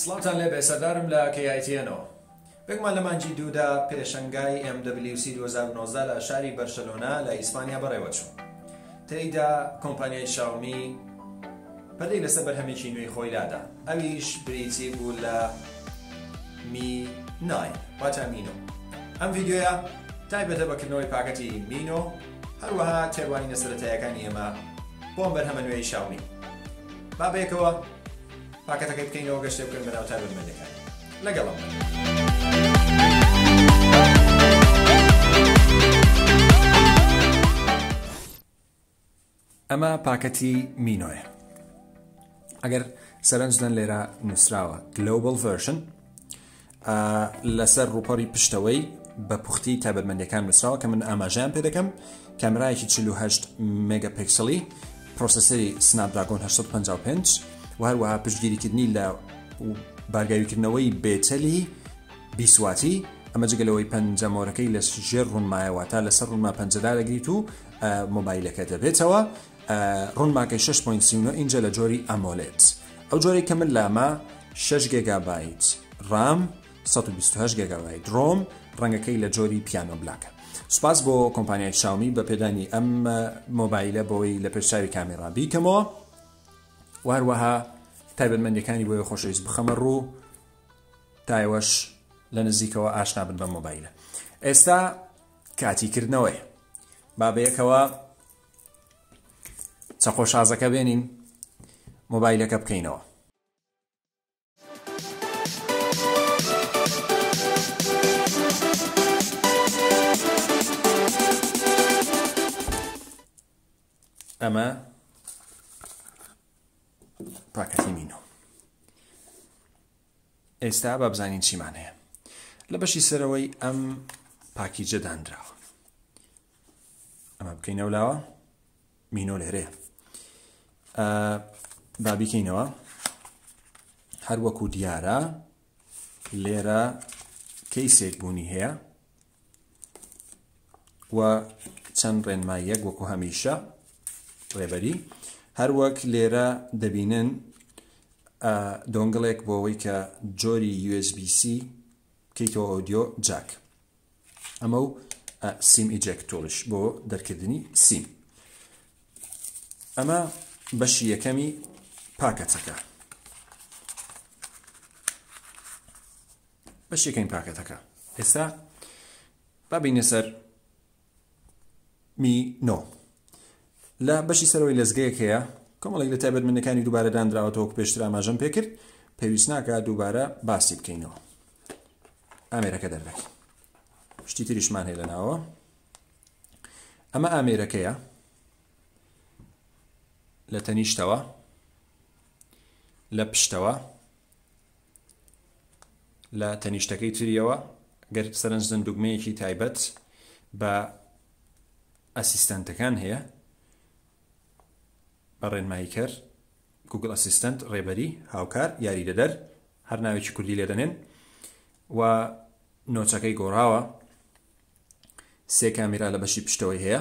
سڵاوتان لێبێ سەردارم لە KITN نەوە بێگومان لە مانگی دوو دا پێشەنگای MWC دوو هەزار و نۆزدە لە شاری بەرشەلۆنە لە ئیسپانیا بەڕێوەچوو تێیدا کۆمپانیای شاومی پەلەی لەسەر بەرهەمێکی نوێی خۆی لادا ئەویش بریتی بوو لە می ناین واتە مینۆ ئەم ڤیدیۆیە تایبەتە بە کردنەوەی پاکەتی مینۆ هەروەها تێڕوانینە سەرەتایەکانی ئێمە بۆ ئەم بەرهەمە نوێی شاومی با بەیەکەوە پاکەتەکەی بکەینەوە گەشتێ بکەن بەناو تایبەتمەندەکانی لەگەڵم ئەمە پاکەتی مینۆیە ئەگەر سەرنجدەن لێرە نووسراوە گلۆبل ڤەرشن ئا لەسەر ڕووپەڕی پشتەوەی بە پوختی تایبەتمەندیەکان نووسراوە کە من ئاماژەیان پێ دەکەم کامێرایەکی 48 مێگە پێکسڵی پرۆسسەری سناپدراگۆن 855 و هەروەها پشتگیریکردنی لە بارگاویکردنەوەی بێتەلی بیسواتی ئەمە جگەلەوەی پەنجەمۆرەکەی لە ژێر ڕوونمایەوە تا لەسەر ڕوونما پەنجەدا دەگریت و مۆبایلەکە دەبێتەوە ڕونماکەی شەش پۆینت سی و نۆ ئینجە لە جۆری ئەمۆلێد ئەو جۆرەی کە من لامە شەش گێگابایت ڕام سەد و بیست و هەشت گێگابایت ڕۆم ڕەنگەکەی لە جۆری پیانۆ بلاکە سوپاس بۆ کۆمپانیای شاومی بە پێدانی ئەم مۆبایلە بۆی لە پێشچاوی کامێرا بیکەمەوە واروەها تایبەتمەندەکانی بۆیە خۆشەویست بخەمە ڕوو تایوەش لە نزیکەوە ئاشنا بن بە مۆبایلە ئێستا کاتی کردنەوەی بابەیەکەوە چەقۆ شازەکە بێنین مۆبایلەکە بکەینەوە. ئەمە پاکەتی مینۆ ئێستا با بزانین چیمان هەیە لە بەشی سەرەوەی ئەم پاکیجە دانراوە ئەمە بکەینە و لاوە مینۆ لێرەیە بابیکەینەوە هەر وەکو دیارە لێرە کەیسێک بوونی هەیە و چەند ڕێنماییەک وەکو هەمیشە ڕێبەری هەروەک لێرە دەبینن دۆنگڵێک بۆ ئەوەی کە جۆری USB-C کەیتەوە ئۆدیۆ جاک ئەمە و سیم ئیجێکتۆریش بۆ دەرکردنی سیم ئەمە بەشی یەکەمی پاکەتەکە بەش یەکەمی پاکەتەکە ئێستا بابینە سەر می نۆ لە بەشی سەرەوەی لەزگەیەک هەیە کۆمەڵێک لە تایبەتمەندەکانی دووبارە داندراوەتەوە وەک پێشتر ئاماژەم پێکرد پێویست ناکە دووبارە باسی بکەینەوە ئامێرەکە دەردەکەین شتی تریشمان هەیە لەناوە ئەمە ئامێرەکەیە لە تەنیشتەوە لە پشتەوە لە تەنیشتەکەی تریەوە گەر سەرنج دەن دوگمەیەکی تایبەت بە ئەسیستەنتەکان هەیە بە ڕێنماییکەر گوگل ئەسیستەنت ڕێبەری هاوکار یاری دەدەر هەر ناوێکی کوردی لێ دەنێن و نۆچەکەی گۆڕاوە سێ کامیرا لە بەشی پشتەوەی هەیە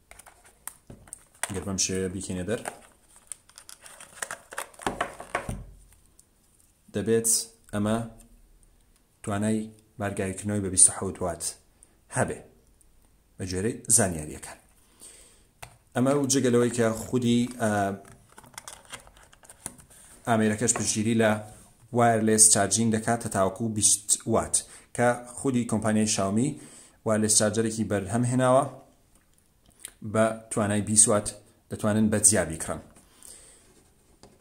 گەر بەم شێوەیە بیکەینە دەر دەبێت ئەمە توانای بارگاویکردنەوەی بە 26 وات هەبێ بە جۆرەی زانیاریەکان ئەمە و جگەلەوەی کە خودی ئامێرەکەش پشگیری لە وایرلس چارجین دەکات تا تاوەکو 20 وات کە خودی کۆمپانیای شاومی وایرلس چارجەرێکی بەرهەم هێناوە بە توانای بیسوات دەتوانن بە جیا بیکڕن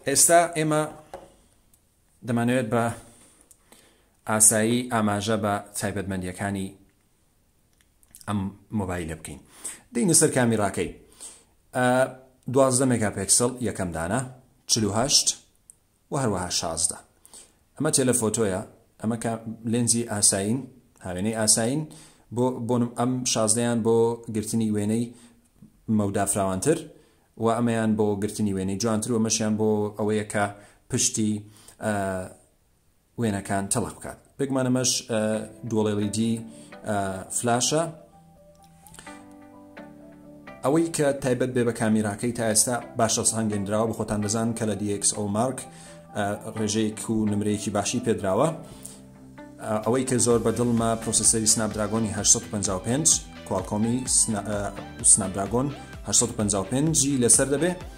ئێستا ئێمە دەمانەوێت بە ئاسایی ئاماژە بە تایبەتمەندیەکانی ئەم مۆبایلە بکەین دەینە سەر کامیراکەی دوازدە مێگا پێکسل یەکەم دانە چهشت وە هەروەها شازدە. ئەمە تێلەفۆتۆیە ئەمە کا لێنزی ئاسایین هاوێنەی ئاسایین بۆ بۆنم ئەم شازدەیان بۆ گرتنی وێنەی مەودا فراوانتر و ئەمەیان بۆ گرتنی وێنەی جوانتر و مەشیان بۆ ئەوەیە کە پشتی وێنەکان تەڵخ بکات بێگومان ئەمەش دوڵێڵیدی فلاشە ئەوەی کە تایبەت بێ بە کامیراکەی تا ئێستا باشە سانگەندراوە بە خۆتان دەزان کە لە دیکس ئەو مارک ڕێژەیەک و نمرەیەکی باشی پێدراوە ئەوەی کە زۆر بە دڵمە پرۆسیسەری سناپدراگۆنی 1955 کوالکۆمی سناپدراگۆن 1955 لەسەر دەبێت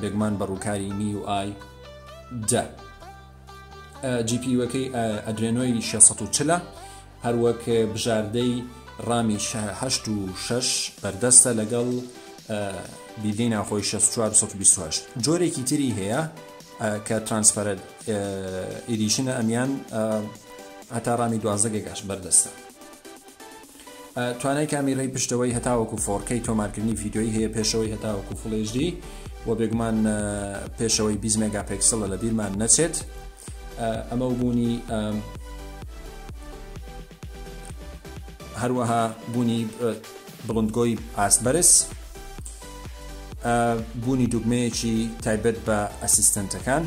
بێگومان بە ڕووکاری میووئای دە جی پی یوەکەی ئەدرێنۆی 640 هەروەک بژاردەی ڕامی 6 بەردەستە لەگەڵ بیدەی ناخۆی 6428 جۆرێکی تری هەیە کە ترانسفەرەت ئیدیشنە ئەمیان هەتا ڕامی دوازدەگەگەش بەردەستە توانای کامیرەی پشتەوەی هەتاوەکو فۆڕکەی تۆمارکردنی ڤیددیۆی هەیە پێشەوەی هەتاوەکو فڵێژدی و بێگومان پێشەوەی 20 مێگا پێکسڵە لە بیرمان نەچێت ئەمە و بوونی هەروەها بوونی بڵندگۆی ئاست بەرز بوونی دوگمەیەکی تایبەت بە ئەسیستنتەکان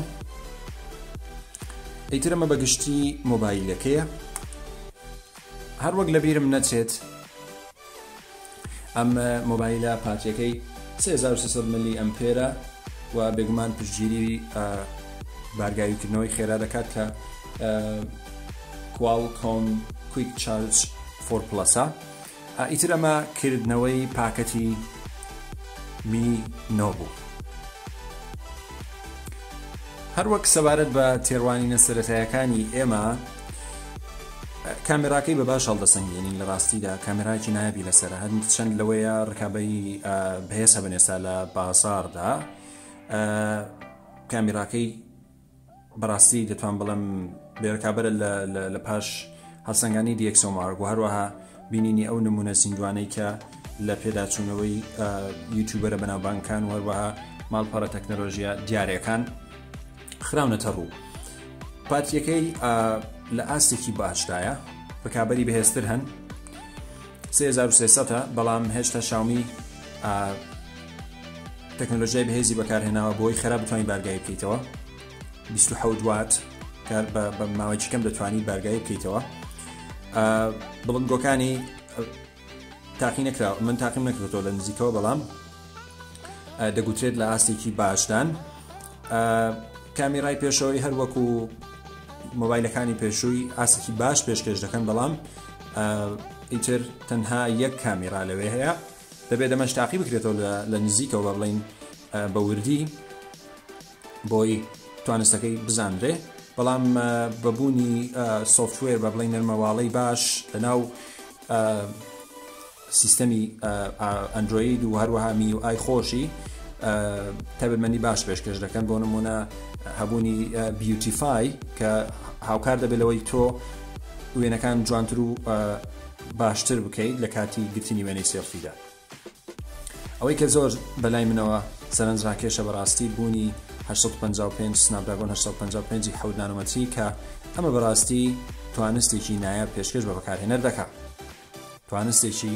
ئیترەمە بەگشتی مۆبایلەکەیە هەر وەک لەبیرم نەچێت ئەم مۆبایلە پاتریەکەی 3300 ملی ئەمپێرە و بێگومان پشتگیری بارگاویکردنەوەی خێرا دەکات کە کوال کۆم کویک چارج فۆر پلەسە ئیتر ئەمە کردنەوەی پاکەتی می نۆبوو هەروەک سەبارەت بە تێڕوانینە سەتایەکانی ئێمە کامێراکەی بە باش هەڵدەسەنگێنین لە ڕاستیدا کامێراکی نایبی لەسرە هەند چەند لەوەیە ڕکابی بەهێز هەبن ئێستا لە بازاردا کامێراکەی بەڕاستی دەتوان بڵم بێرکابەرە لە پاش هەڵسەنگانی دیەکسۆمارگ و هەروەها بینینی ئەو نمونە زیندوانەی کە لە پێداچوونەوەی یوتوبەرە بەناوبانکان و هەروەها ماڵپەڕە تەکنەلۆژیە دیارەکان خراونەتە ڕوو پارتیەکەی لە ئاستێکی باشدایە ڕکابەری بەهێزتر هەن 3300 بەڵام هێشتا شاومی تەکنۆلۆژیای بەهێزی بەکارهێناوە بۆی خراپ بتوانین بارگای بکەیتەوە 26 وات کار بە ماوەی کەم دەتوانانی بارگای بکەیتەوە بڵندگۆکانی تاقی نەکرا من تاقیم نەکردەوە لە نزیکەوە بەڵام دەگوترێت لە ئاستێکی باشدان کامیرای پێشەوەی هەروەکو مۆبایلەکانی پێشووی ئاسکی باش پێشکەش دەکەن بەڵام ئیتر تەنها یەک کامیرا لەوێ هەیە دەبێت دەمەش تاقی بکرێتەوە لە نزیکەوە بڵین بە وردی بۆی توانستەکەی بزانرێ بەڵام بە بوونی سوفتوێر بە بڵی نەرمەواڵەی باش لەناو سیستەمی ئەندروید و هەروەها می و ئای خۆشی تەبمەنی باش پێشکەش دەکەن بۆ نمونە هەبوونی بیوتیفای کە هاوکار دەبێت لەوەی تۆ وێنەکان جوانتر و باشتر بکەیت لە کاتی گرتنی وێنەی سێلفیدا ئەوەی کە زۆر بەلای منەوە سەرنجراکێشە بەڕاستی بوونی هەشت سەد و پەنجا و پێنج سناپدراگۆن هەشت سەد و پەنجا و پێنج ی حەوت نانۆمەتری کە ئەمە بەڕاستی توانستێکی نایاب پێشکەش بە بەکارهێنەر دەکا توانستێکی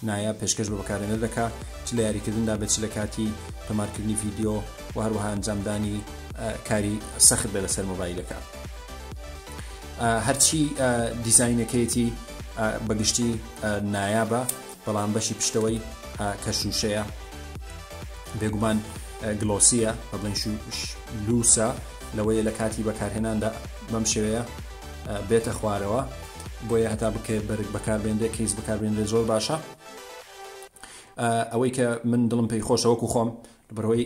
نایاب پێشکەش بە بەکارهێنەر دەکا چ لە یاریکردندا بێت چ لە کاتی تۆمارکردنی ڤیدیۆ و هەروەها ئەنجامدانی کاری سەخت بێ لەسەر مۆبایلەکە هەرچی دیزینەکەیەتی بەگشتی نایابە بەڵام بەشی پشتەوەی کە شووشەیە بێگومان گلۆسیە بە بڵین لوسە لەوەیە لە کاتی بەکارهێناندا بەم شێوەیە بێتە خوارەوە بۆیە هەتا بکەێت بەرگ بەکاربێنێ کەیس بەکاربێنێ زۆر باشە ئەوەی کە من دڵم پێی خۆشەوەکو خۆم بەرەوەی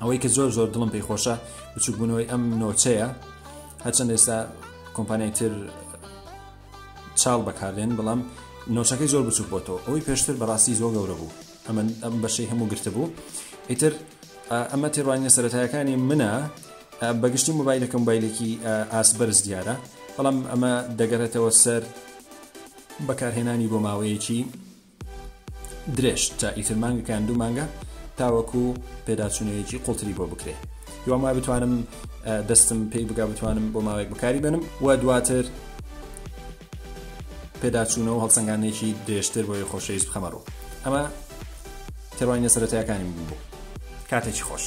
ئەوەی کە زۆر زۆر دڵم پێی خۆشە بچووکبوونەوەی ئەم نۆچەیە هەرچەند ئێستا کۆمپانیای تر چاڵ بەکاردێن بەڵام نۆچەکەی زۆر بچوک بۆتەوە ئەوەی پێشتر بەڕاستی زۆر گەورە بوو ئەمە ئەم بەشەی هەموو گرتبوو ئیتر ئەمە تێڕوانینە سەتایەکانی منە بەگشتی مۆبایلەکەم بایلێکی ئاس بەرز دیارە بەڵام ئەمە دەگەرێتەوە سەر بەکارهێنانی بۆ ماوەیەکی درێژ تا ئیتر مانگێک یان دوو مانگە تاوەکو پێداچوونەیەکی قوڵتری بۆ بکرێ هیوام وای بتوانم دەستم پێی بگا بتوانم بۆ ماوەیەک بەکاری بێنم و دواتر پێداچوونەوە هەڵسەنگانێکی درێژتر بۆی خۆشەویست بخەمەڕوو ئەمە تێڕوانینە سەرەتایەکانی من بوو کاتێکی خۆش.